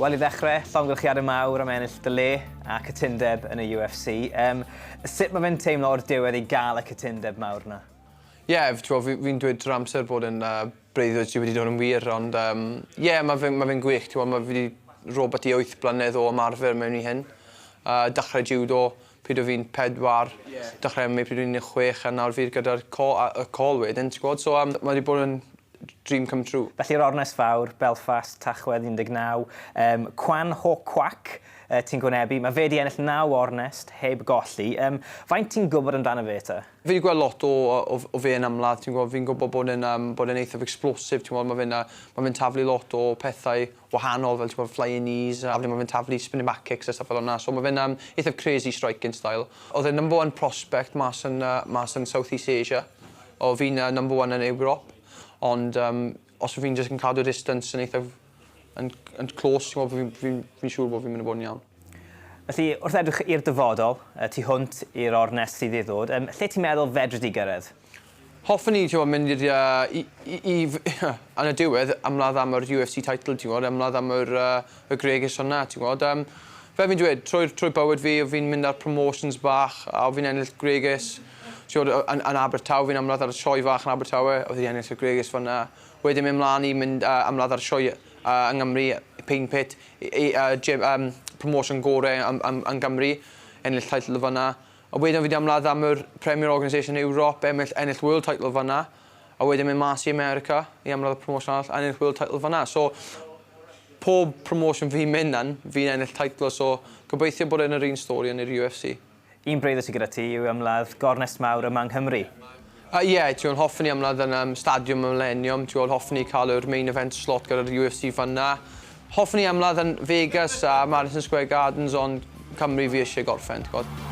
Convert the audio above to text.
Wel, i ddechrau, llongyllchiadau mawr am ennill dy le a cytundeb yn y UFC. Um, sut mae fe'n teimlo o'r diwedd i gael y cytundeb mawr yna? Ie f- t'mo' fi fi'n dweud trwy'r amser bod e'n yy breuddwyd sy wedi dod yn wir ond yym ie ma' fe'n ma' fe'n gwych t'mo' ma' fi 'di robot i wyth blynedd o ymarfer mewn i hyn. Yy dachre jiwdo pryd o' fi'n pedwar. Ie. Dachre ym mi pryd o'n i'n un de' chwech a nawr fi gyda'r co- a- y col wedyn ti gw'od so yym ma' 'di bod yn d- dream come true. Felly'r ornest fawr, Belfast, Tachwedd 19, yym Kwan Ho Kwak yy ti'n gwynebu, ma' fe 'di ennill naw ornest heb golli, yym faint ti'n gwbod amdano fe te? Fi 'di gweld lot o o o fe yn ymladd ti'n gw'o' fi'n gwbo bod e'n yym bod e'n eitha explosive ti'n w'o' ma' fe'n yy ma' fe'n taflu lot o pethau wahanol fel t'mod flying knees a wedyn ma' fe'n taflu spinning back kicks a stwff fel wnna so ma' fe'n yym eithaf crazy striking style. Odd e'n number one prospect mas yn yy mas yn South East Asia. O fi'n yy number one yn Ewrop ond yym Os fi'n jyst yn cadw distance yn eithaf yn, yn close, ti'n gwybod, fi'n fi, fi, fi siŵr bod fi'n mynd i bod yn iawn. Felly, wrth edrych i'r dyfodol, y tu hwnt i'r ornest sydd i ddod, um, lle ti'n meddwl fedri di gyrraedd? Hoffwn i, ti'n gwybod, mynd i'r... Uh, i, i, i, yn y diwedd, ymladd am yr UFC title, ti'n gwybod, ymladd am yr... Uh, y gregesion 'na ti'n gwbod yym fel fi'n dweud trwy'r trwy bywyd fi o' fi'n mynd ar promotions bach a o' fi'n ennill gwregys t'wod o- yn yn Abertawe fi'n ymladd ar y Sioe fach yn Abertawe o' fi 'di ennill y gwregys fyn 'na. Wedyn myn' mlan i mynd yy ymladd ar y sioe yy yng Ngymru yy Paint Pit i i yy jem- yym promotion gore yym yym yn Gymru ennill teitl fyn 'na. A wedyn o' fi 'di ymladd am yr Premier Organisation Ewrop emmill ennill World title fyn 'na. a wedyn mynd mas i America i ymladd y promotion arall a ennill world title fanna so pob promotion fi'n mynd lan fi'n ennill teitl so gobeithio bod e'n yr un stori yn yr UFC. Un breuddwyd sydd gyda ti yw ymladd gornest mawr yma yng Nghymru. Yy ie, t'wod hoffen i ymladd yn yym Stadiwm y Mileniwm, t'wod hoffen i cael yr main event slot gyda'r UFC fanna. Hoffwn i ymladd yn Vegas a Madison Square Gardens ond Cymru fi eisiau gorffen, ti'n gwybod.